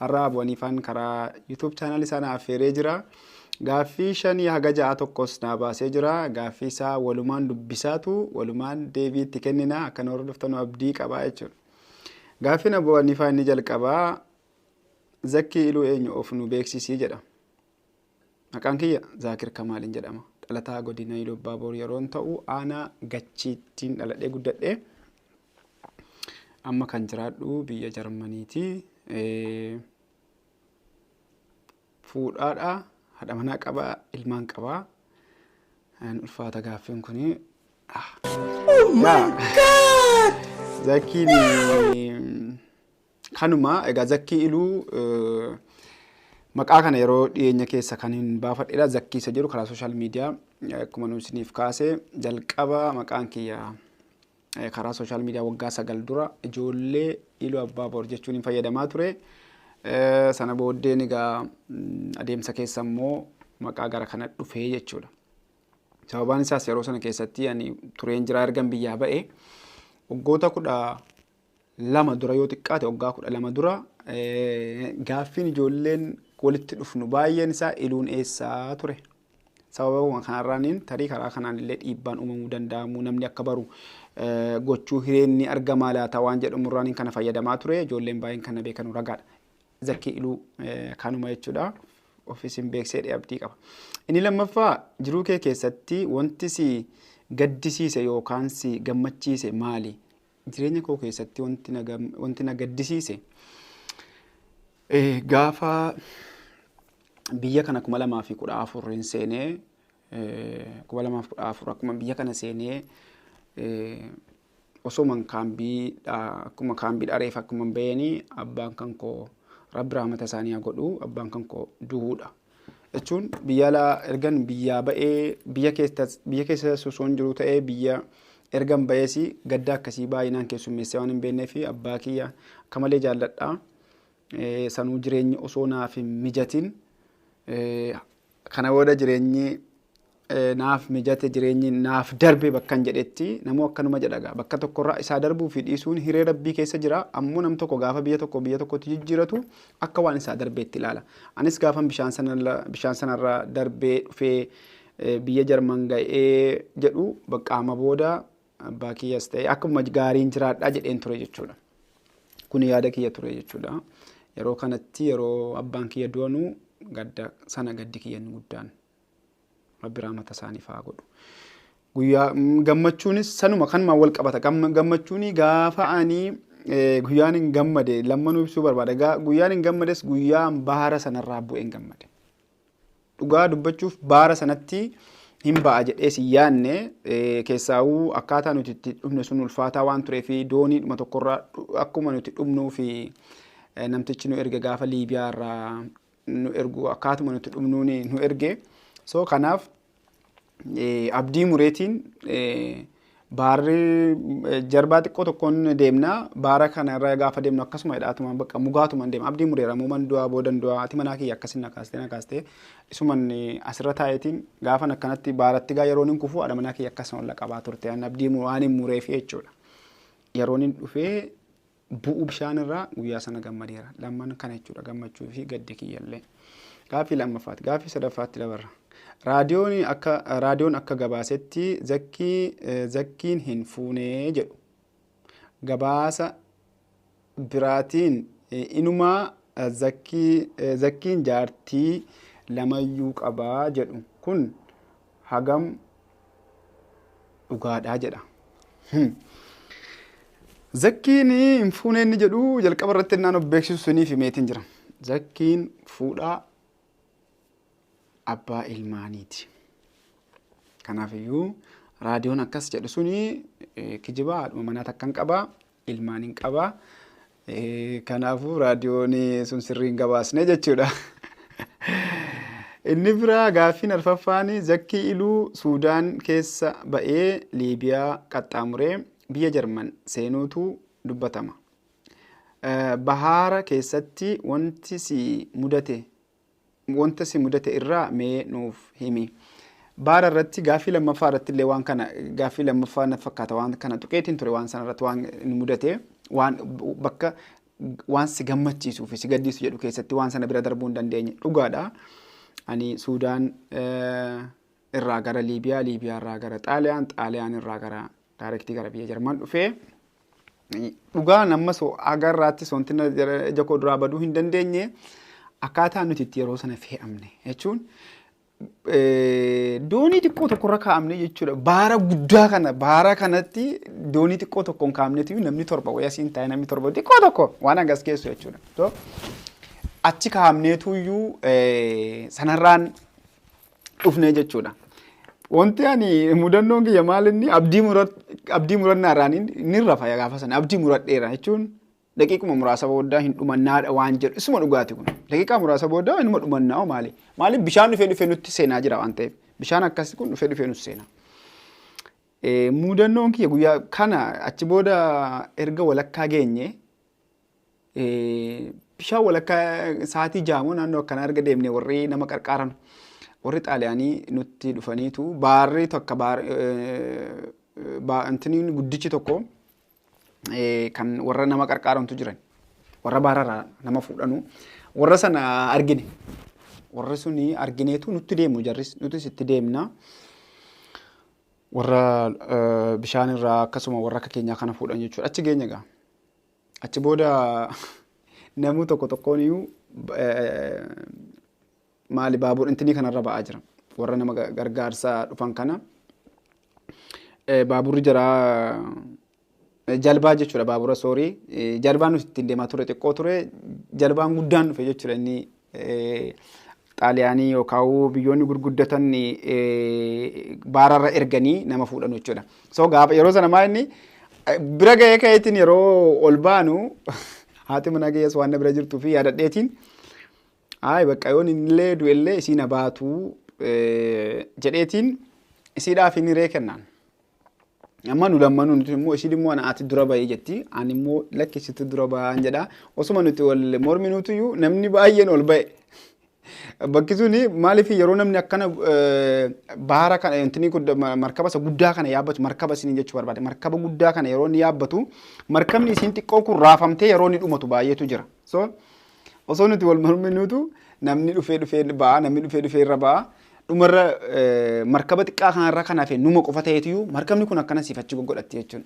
Har'a Abu Haniifaan karaa YouTube channel isaa na affeeree jira. Gaaffii shanii haga ja'a tokkos naa baasee jira. Gaaffii isaa walumaan dubbisaatu walumaan deebii itti kennina akka nu hordoftanu abdii qabaa jechuudha. Gaaffiin Abu Haniifaa inni jalqabaa zakkii iluu eenyu of nu beeksisii jedha. Maqaan kiyya Zaakir Kamaaliin jedhama. Dhalataa godina Iluu Abbaa Boor yeroon ta'u aanaa Gachiittiin dhaladhee guddadhe. Amma kan jiraadhu biyya Jarmaniiti. Fuudhaadha, haadha manaa qaba, ilmaan qaba. Ulfaata gaaffiin kun. Oh my God! Zakiin Kanuma egaa zakkii iluu maqaa kana yeroo dhiyeenya keessa kan hin baafadheedha zakkii isa jedhu karaa sooshaal miidiyaa akkuma nu isiniif kaase jalqaba maqaan kiyya karaa sooshaal miidiyaa waggaa sagal dura ijoollee iluu abbaa boor jechuun hin fayyadamaa ture. Sana booddeen egaa adeemsa keessa immoo maqaa gara kana dhufee jechuudha. Sababaan isaas yeroo sana keessatti ani tureen jiraa ergan biyyaa ba'e waggoota kudha lama dura yoo xiqqaate waggaa kudha lama dura gaaffiin ijoolleen walitti dhufnu baay'een isaa iluun eessaa ture. Sababa kanarraaniin tarii karaa kanaan illee dhiibbaan uumamuu danda'amu namni akka baru gochuu hireen ni argamaa laata waan jedhamurraaniin kana fayyadamaa ture ijoolleen baay'een kana beekanu ragaadha. Zakkii iluu kanuma jechuudha. Ofiisin beeksee dheebdii qaba. Inni lammaffaa jiruu kee keessatti wanti si gaddisiise yookaan si gammachiise maali? Jireenya koo keessatti wanti na gam- wanti na gaddisiise eh, gaafa biyya kana kuma lamaa fi kudha afur hin seenee eh, kuma lamaa fi kudha afur akkuma biyya kana seenee eh, osoman kaambiidha akkuma kaambii dhareef akkuma baheenii abbaan kan koo rabbi rahmata isaanii haa godhu abbaan kan koo du'uudha. jechuun biyya alaa ergan biyyaa ba'ee biyya keessas biyya keessa sosoon jiru ta'ee biyya ergan ba'ees gaddaa akkasii baay'inaan keessummeessee waan hin beeknee fi abbaa kiyya akka malee jaalladha. Eh, Sanuu jireenyi osoo naaf hin mijatin eh, kana booda jireenyi naaf mijate jireenyi naaf darbe bakkan jedhetti namuu akkanuma jedha gaa bakka tokkorraa isaa darbuu fi dhiisuun hiree rabbii keessa jira ammoo nam tokko gaafa biyya tokko biyya tokkotti jijjiiratu akka waan isaa darbeetti ilaala anis gaafan bishaan sanarra bishaan sanarra darbee dhufee eh, biyya jarman ga'ee jedhu baqqaama booda abbaa kiyyas ta'e akkuma gaariin jiraadhaa jedheen ture jechuudha kun yaada kiyya ture jechuudha yeroo kanatti yeroo abbaan kiyya du'anu gadda sana gaddi kiyyan guddaan Rabbi rahmata isaaniif haa godhu. Guyyaa mm, gammachuunis sanuma kanumaan wal qabata. Gamma- Gammachuuni gaafa ani eh, guyyaan hin gammade lammanuu ibsuu barbaada. Gaa- Guyyaan hin gammades guyyaan baara sanarraa bu'ee hin gammade. Dhugaa dubbachuuf baara sanatti hin ba'a jedhee si yaadne eh, keessaawuu akkaataa nuti itti dhumne sun ulfaataa waan turee fi dooniidhuma tokkorraa dhu- akkuma nuti dhumnuu fi eh, namtichi nu erga gaafa Liibiyaa irraa nu ergu akkaatuma nuti dhumnuun nu erge so kanaaf abdii mureetiin baarri jarbaa xiqqoo tokkoon deemna baara kana irra gaafa deemnu akkasuma hidhaatuma bakka mugaatuma deema abdii mureera muuman du'aa boodan du'aa ati manaa kiyya akkasin na kaastee na kaastee isuman asirra taa'eetiin gaafan akkanatti baaratti gaa yeroon hin kufuu haadha manaa kiyya akkasuma olla qabaa turte an abdii waan hin mureef jechuudha yeroon hin dhufee bu'uu bishaan irraa guyyaa sana gammadeera. Lamman kana jechuudha gammachuu fi gaddi kiyyallee. Gaaffii lammaffaati. Gaaffii sadaffaatti dabarra. Raadiyoon akka raadiyoon akka gabaasetti zakkii eh, zakkiin hin fuunee jedhu. Gabaasa biraatiin eh, inumaa eh, zakkii eh, zakkiin jaartii lamayyuu qabaa jedhu. Kun hagam dhugaadhaa jedha. Zakkiin hin fuune inni jedhu jalqaba irratti innaan of beeksisu suniif himeetiin jira. Zakkiin fuudhaa abbaa ilmaaniiti. Kanaafiyyuu raadiyoon akkas jedhu suni kijibaa haadhuma manaa takkan qaba ilmaan hin qaba. Kanaafuu raadiyoon sun sirrii hin gabaasne jechuudha. Inni biraa gaaffiin arfaffaan zakkii iluu Suudaan keessa ba'ee Liibiyaa qaxxaamuree biyya Jarman seenuutu dubbatama. Bahaara keessatti wanti si mudate wanta si mudate irraa mee nuuf himi. Baara irratti gaaffii lammaffaa irratti illee waan kana gaaffii lammaffaa na fakkaata waan kana tuqeetiin ture waan sana irratti waan nu mudate waan bakka waan si gammachiisuu fi si gaddiisu jedhu keessatti waan sana bira darbuu hin dandeenye dhugaadha. Ani Suudaan irraa gara Liibiyaa, Liibiyaa irraa gara Xaaliyaan, Xaaliyaan irraa gara daayirektii gara biyya Jarman dhufee Dhugaa namma so haga irraatti soontina ija koo duraa baduu hin dandeenye akkaataa nuti itti yeroo sana fe'amne jechuun doonii xiqqoo tokko irra kaa'amne jechuudha. Baara guddaa kana baara kanatti doonii xiqqoo tokko hin kaa'amnetu namni torba wayii asiin taa'e namni torba xiqqoo tokko waan hangas geessu jechuudha. So, achi kaa'amneetu iyyuu sanarraan dhufnee jechuudha. Wanti ani mudannoon kiyya maal inni abdii murat abdii murannaa irraa ni ni rafa gaafa sana abdii muradheera jechuun daqiiquma muraasa booda hin dhumannaadha waan jedhu isuma dhugaati kun daqiiqaa muraasa booda inuma dhumannaa hoo maali maaliif bishaan dhufee dhufee nutti seenaa jira waan ta'eef bishaan akkasii kun dhufee dhufee nutti seenaa. Eh, Mudannoon kiyya guyyaa kana achi booda erga walakkaa geenye Bishaan walakkaa sa'aatii jaamoo naannoo akkanaa erga deemne warri nama qarqaaran warri xaaliyaanii nutti dhufaniitu baarri tokko baar intiniin guddichi tokko kan warra nama qarqaarantu jiran warra baararraa nama fuudhanu warra sana argine warri suni argineetu nutti deemu jarris nutis itti deemna. warra bishaan irraa akkasuma warra akka keenyaa kana fuudhan jechuudha achi geenya gaa. Achi booda namuu tokko tokkoon iyyuu maali baabur intinii kanarra ba'aa jira. Warra nama gargaarsa dhufan kana baaburri jira jalbaa jechuudha baabura soorii jalbaan nuti ittiin deemaa ture xiqqoo ture jalbaan guddaan dhufe jechuudha inni Xaaliyaanii yookaan biyyoonni gurguddatan baararra erganii nama fuudhan jechuudha. So gaafa yeroo sana maa inni bira ga'ee ka'eetiin yeroo ol baanu haati manaa kiyyaas waan na bira jirtuu fi yaadadheetiin ayi bakka yoon illee du'ellee isiin abaatu jedheetiin isiidhaaf hin hiree kennaan. Amma nu lammanuu nuti immoo ishiin immoo ana ati dura bahii jetti ani immoo lakki situ dura bahaan jedha osuma nuti wal morminuutuyyuu namni baay'een ol ba'e. Bakki suni maaliif yeroo namni akkana eh, baara kana yookiin kun ma- markaba isa guddaa kana yaabbatu markaba isiniin jechuu barbaade markaba guddaa kana yeroo inni yaabbatu markabni isiin xiqqoo kun raafamtee yeroo inni dhumatu baay'eetu jira. So Osoo nuti wal morminuutu namni dhufee dhufee ba'a, namni dhufee dhufee irra ba'a. Dhumarra eh, markaba xiqqaa kanarra kan hafe numa qofa ta'eetuyyuu markabni kun akkana siif achi goggodhatti jechuun.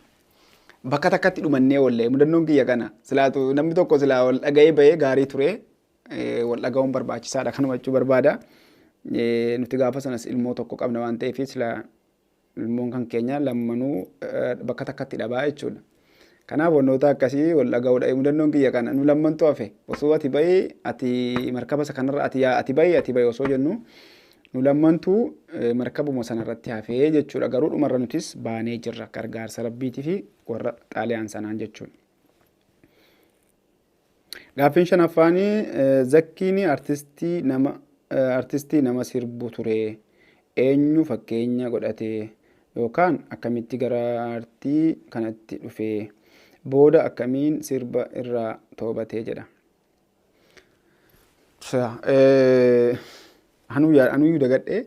Bakka takkatti dhumannee oolle mudannoon kiyya kana silaatu namni tokko silaa wal dhaga'ee bahee gaarii ture eh, wal dhaga'uun barbaachisaadha kanuma jechuu barbaada. Eh, Nuti gaafa sanas ilmoo tokko qabna waan ta'eef silaa Ilmoon kan keenya lammanuu bakka takkatti dhabaa jechuudha. Kanaaf wantoota akkasii wal dhaga'uudha. Mudannoon kiyya kana nu lammantu hafe osoo ati bahi ati markaba isa kanarra ati yaa ati bahi ati bahi osoo jennu nu lammantu markabuma sanarratti hafee jechuudha. Garuu dhumarra nutis baanee jirra gargaarsa rabbiitii fi warra xaaliyaan sanaan jechuudha. Gaaffiin shanaffaan Zakkiin artistii nama artistii nama sirbu ture eenyu fakkeenya godhate yookaan akkamitti gara artii kanatti dhufe booda akkamiin sirba irraa toobatee jedha. Anuu yaa anuu dagadhe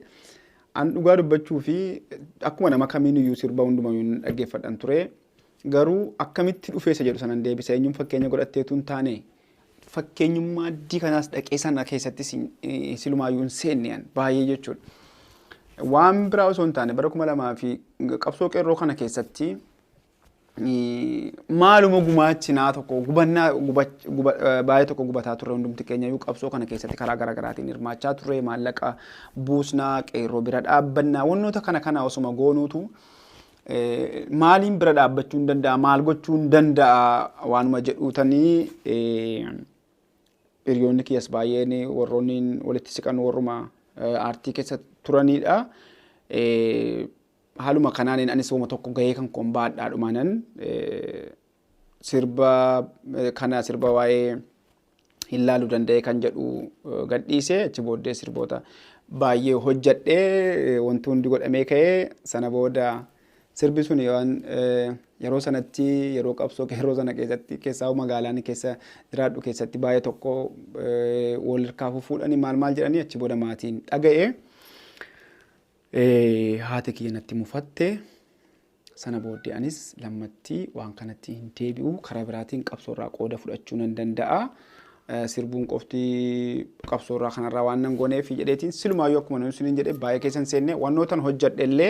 an dhugaa dubbachuu fi akkuma nama kamiin iyyuu sirba hunduma hin dhaggeeffadhan ture garuu akkamitti dhufeessa jedhu sanan deebisa eenyuun fakkeenya godhatteetu hin taane fakkeenyummaa addii kanaas dhaqee sana keessatti silumaayyuu hin seenne an baay'ee jechuudha. Waan biraa osoo hin taane bara kuma lamaa fi qabsoo qeerroo kana keessatti maaluma gumaachinaa tokko gubannaa baay'ee tokko gubataa turre hundumti keenya iyyuu qabsoo kana keessatti karaa garaa garaatiin hirmaachaa turre maallaqa buusnaa qeerroo bira dhaabbannaa wantoota kana kana osuma goonuutu maaliin bira dhaabbachuu hin danda'a maal gochuu hin danda'a waanuma jedhuutanii hiriyoonni kiyyas baay'een warroonni walitti siqan warruma aartii keessa turanidha. Haaluma kanaanin anis woma tokko gahee kan koon ba'adhaa dhumaanan sirba kana sirba waa'ee hin laalu danda'e kan jedhu gadhiise achi booddee sirboota baay'ee hojjadhee wanti hundi godhamee ka'ee sana booda sirbi sun waan yeroo sanatti yeroo qabsoo yeroo sana keessatti keessaa magaalaan keessa jiraadhu keessatti baay'ee tokko wal harkaa fuudhanii maal maal jedhanii achi booda maatiin dhaga'ee. Haati kiyya natti mufatte. Sana booddee anis lammatti waan kanatti hin deebi'u. Karaa biraatiin qabsoorraa qooda fudhachuu nan danda'a. Sirbuun qofti qabsoorraa kanarraa waan nan gooneef jedheetiin silumaayyuu akkuma nuyi isiniin jedhe baay'ee keessan seenne wannootan hojjedhe illee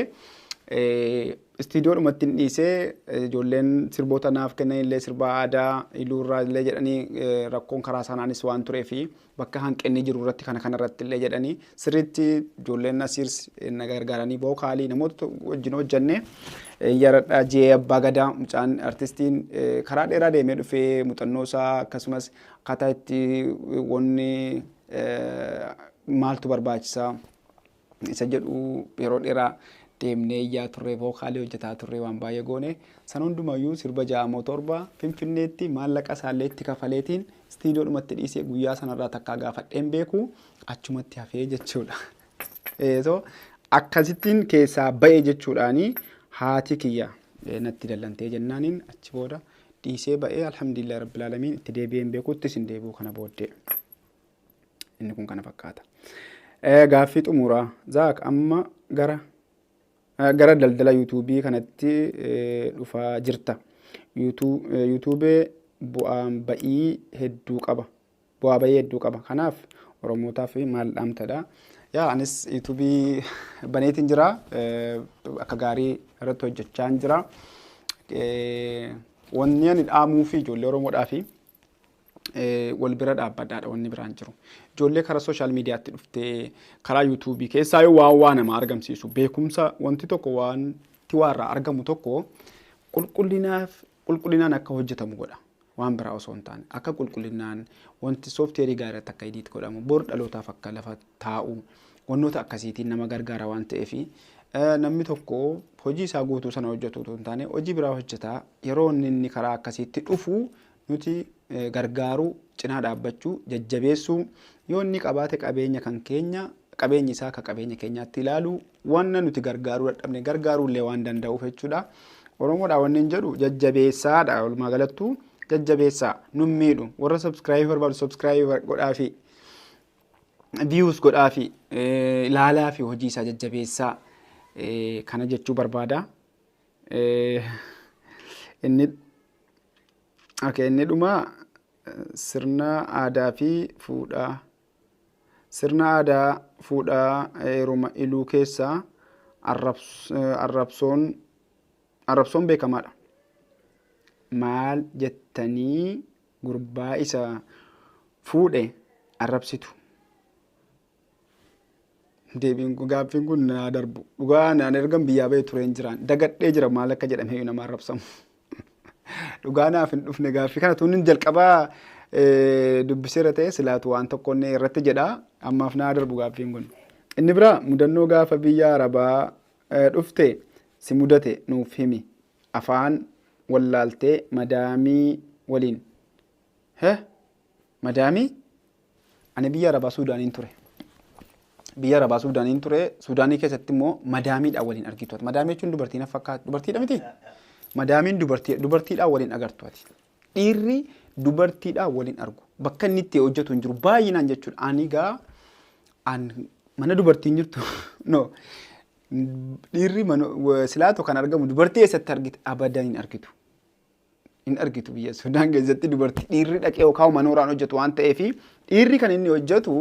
istiidiyoodhumatti hin dhiisee ijoolleen sirboota naaf kennan illee sirbaa aadaa iluurraa illee jedhanii rakkoon karaa saanaanis waan tureefi bakka hanqinni jiru irratti kana kana irratti illee jedhanii sirriitti ijoolleen nasiirs na gargaaranii vookaalii namoota wajjin hojjenne yaradhaa jee abbaa gadaa mucaan artistiin karaa dheeraa deemee dhufee muuxannoo isaa akkasumas akkaataa itti wanni maaltu barbaachisaa isa jedhu yeroo dheeraa deemnee iyyaa turre vookaalii hojjetaa turre waan baay'ee goone san hundumayyuu sirba ja'amoo torba finfinneetti maallaqa isaallee itti kafaleetiin istiidiyoodhumatti dhiisee guyyaa sanarraa takkaa gaafadheen beeku achumatti hafee jechuudha. so akkasittiin keessaa ba'e jechuudhaani haati kiyya natti dallantee jennaaniin achi booda dhiisee ba'ee alhamdulillah rabbil alamin itti deebi'een beekuuttis hin deebi'u kana booddee. Inni kun kana fakkaata. Gaaffii xumuraa Zaak amma gara gara daldala yuutuubii kanatti dhufaa jirta. Yuutuubee bu'aan ba'ii hedduu qaba. Bu'aa ba'ii hedduu qaba. Kanaaf Oromootaaf maal dhaamtadha? Yaa anis yuutuubii baneetiin jira. Akka gaarii irratti hojjechaa jira. Wanni ani dhaamuu fi ijoollee Oromoodhaa fi wal bira dhaabbadhaadha wanni biraan jiru. Ijoollee karaa sooshaal miidiyaatti dhuftee karaa yuutuubii keessaa yoo waan waa nama argamsiisu beekumsa wanti tokko wanti waa irraa argamu tokko qulqullinaaf qulqullinaan akka hojjetamu godha. Waan biraa osoo hin taane akka qulqullinaan wanti soofteerii gaarii irratti akka idiit godhamu bor dhalootaaf akka lafa taa'u wantoota akkasiitiin nama gargaara waan ta'eef namni tokko hojii isaa guutuu sana hojjetu otoo hin taane hojii biraa hojjetaa yeroo inni inni karaa akkasiitti dhufu nuti gargaaruu, cinaa dhaabbachuu, jajjabeessuu, yoo inni qabaate qabeenya kan keenya, qabeenyi isaa akka qabeenya keenyaatti ilaaluu, wanna nuti gargaaruu dadhabne gargaaruu illee waan danda'uuf jechuudha. Oromoodhaa wanni hin jedhu jajjabeessaadha walumaa galattuu jajjabeessaa nun miidhu warra subscribe barbaadu subscribe godhaafi views godhaafi ilaalaa fi hojii isaa jajjabeessaa kana jechuu barbaada. Inni Okay, inni dhumaa sirna aadaa fi fuudhaa. Sirna aadaa fuudhaa heeruma iluu keessaa arrabsoon arrabsoon beekamaadha. Maal jettanii gurbaa isa fuudhe arrabsitu? Deebiin kun gaaffiin kun naa darbu. Dhugaa naan ergan biyyaa ba'e tureen jiraan. Dagadhee jira maal akka jedhame iyyuu namaan rabsamu. Dhugaa naaf hin dhufne gaaffii kana tuun jalqabaa dubbiseera ta'e silaatu waan tokko inni irratti jedha. Ammaaf naa darbu gaaffiin kun. Inni biraa mudannoo gaafa biyya arabaa dhufte si mudate nuuf himi. Afaan wallaaltee madaamii waliin. Heh? Madaamii ani biyya Arabaa Suudaaniin ture. Biyya Arabaa Suudaaniin ture. Suudaanii keessatti immoo madaamiidhaan waliin argitu. ati. Madaamii jechuun dubartii na fakkaatu. Dubartiidha miti? Madaamiin dubartii dubartiidhaan waliin agartu ati. Dhiirri dubartiidhaan waliin argu. Bakka inni itti hojjetu hin jiru. Baay'inaan jechuudha. Ani gaa an mana dubartiin jirtu no dhiirri mana- wa- silaatu kan argamu dubartii eessatti argite abadan hin argitu. hin argitu biyya Sudaan keessatti dubartii dhiirri dhaqee yookaan manooraan hojjetu waan ta'eef dhiirri kan inni hojjetu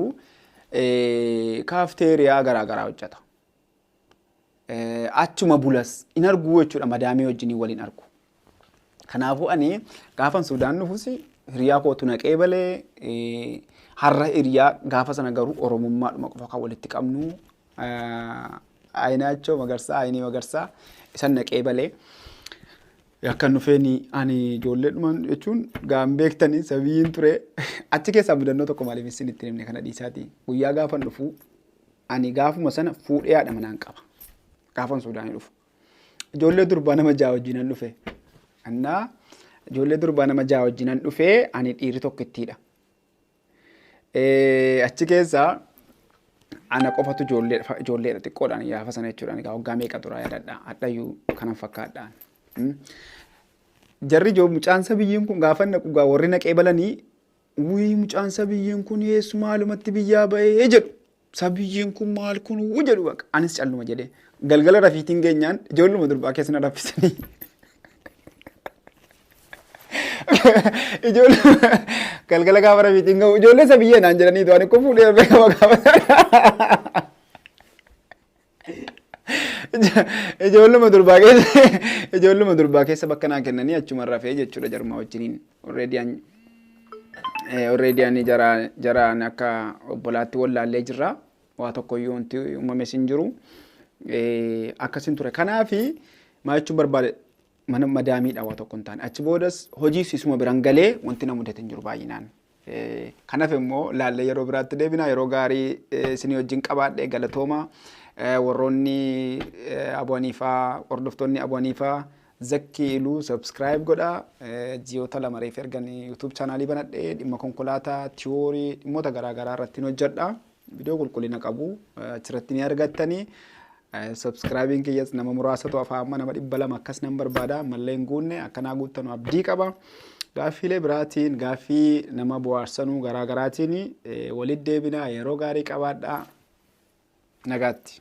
kaafteeriyaa garaagaraa hojjeta. Achuma bulas hin arguu jechuudha madaamii wajjin waliin argu. Kanaafuu ani gaafan Sudaan dhufus hiriyaa kootu naqee balee har'a hiriyaa gaafa sana garuu oromummaadhuma qofa kan walitti qabnu ayinaachoo magarsaa ayinii magarsaa isan naqee balee. Akkan dhufeeni ani ijoolleedhuma jechuun gaan beektanii sabiyiin ture achi keessaa mudannoo tokko maaliif isin ittiin himne kana dhiisaati guyyaa gaafan dhufu ani gaafuma sana fuudhee haadha manaan qaba gaafan suudaanii dhufu ijoollee durbaa nama ja'a wajjinan dhufe annaa ijoollee durbaa nama ja'a wajjinan dhufe ani dhiirri tokkittiidha Eh, Achi keessaa ana qofatu ijoollee ijoolleedha xiqqoodhaan gaafa sana jechuudhaan egaa waggaa meeqa turaa yaadadha hadhayyuu kanan fakkaadhaan. Mm. Jarri ijoo mucaan sabiyyiin kun gaafa naqu gaa warri naqee balanii wii mucaan sabiyyiin kun eessu maalumatti biyyaa ba'ee jedhu. Sabiyyiin kun maal kun wuu jedhu baqa. Anis calluma jedhee. Galgala rafiitiin geenyaan ijoolluma durbaa keessa na raffisanii. Ijoolluma galgala gaafa rafiitiin gahu ijoollee sabiyyee naan jedhanii du'an kun fuudhee beekama gaafa. Ijoolluma durbaa keessa ijoolluma durbaa keessa bakka naa kennanii achuma rafee jechuudha jaruma wajjiniin. Already an already ani jara jaraan akka obbolaatti wallaallee jirra. Waa tokkoyyuu wanti uumames hin jiru. Akkasin ture. Kanaafi maal jechuun barbaade mana madaamiidha waa tokko hin taane. Achi boodas hojiis isuma biran galee wanti na mudate hin jiru baay'inaan. Kan hafe immoo laallee yeroo biraatti deebina. Yeroo gaarii isinii wajjin qabaadhe galatooma. Warroonni Abu Haniifaa hordoftoonni Abu Haniifaa Zakkii Iluu subscribe godha. Ji'oota lama reef ergan YouTube chaanaalii banadhe dhimma konkolaataa, tiyoorii, dhimmoota garaa garaa irratti hin hojjedha. Viidiyoo qulqullina qabu achirratti ni argattani. Subscribing kiyyas nama muraasatu afaa amma nama dhibba lama akkas nan barbaada ammallee hin guunne akkanaa guuttanu abdii qaba. Gaaffiilee biraatiin gaaffii nama bohaarsanuu garaa garaatiin walitti deebinaa yeroo gaarii qabaadhaa nagaatti.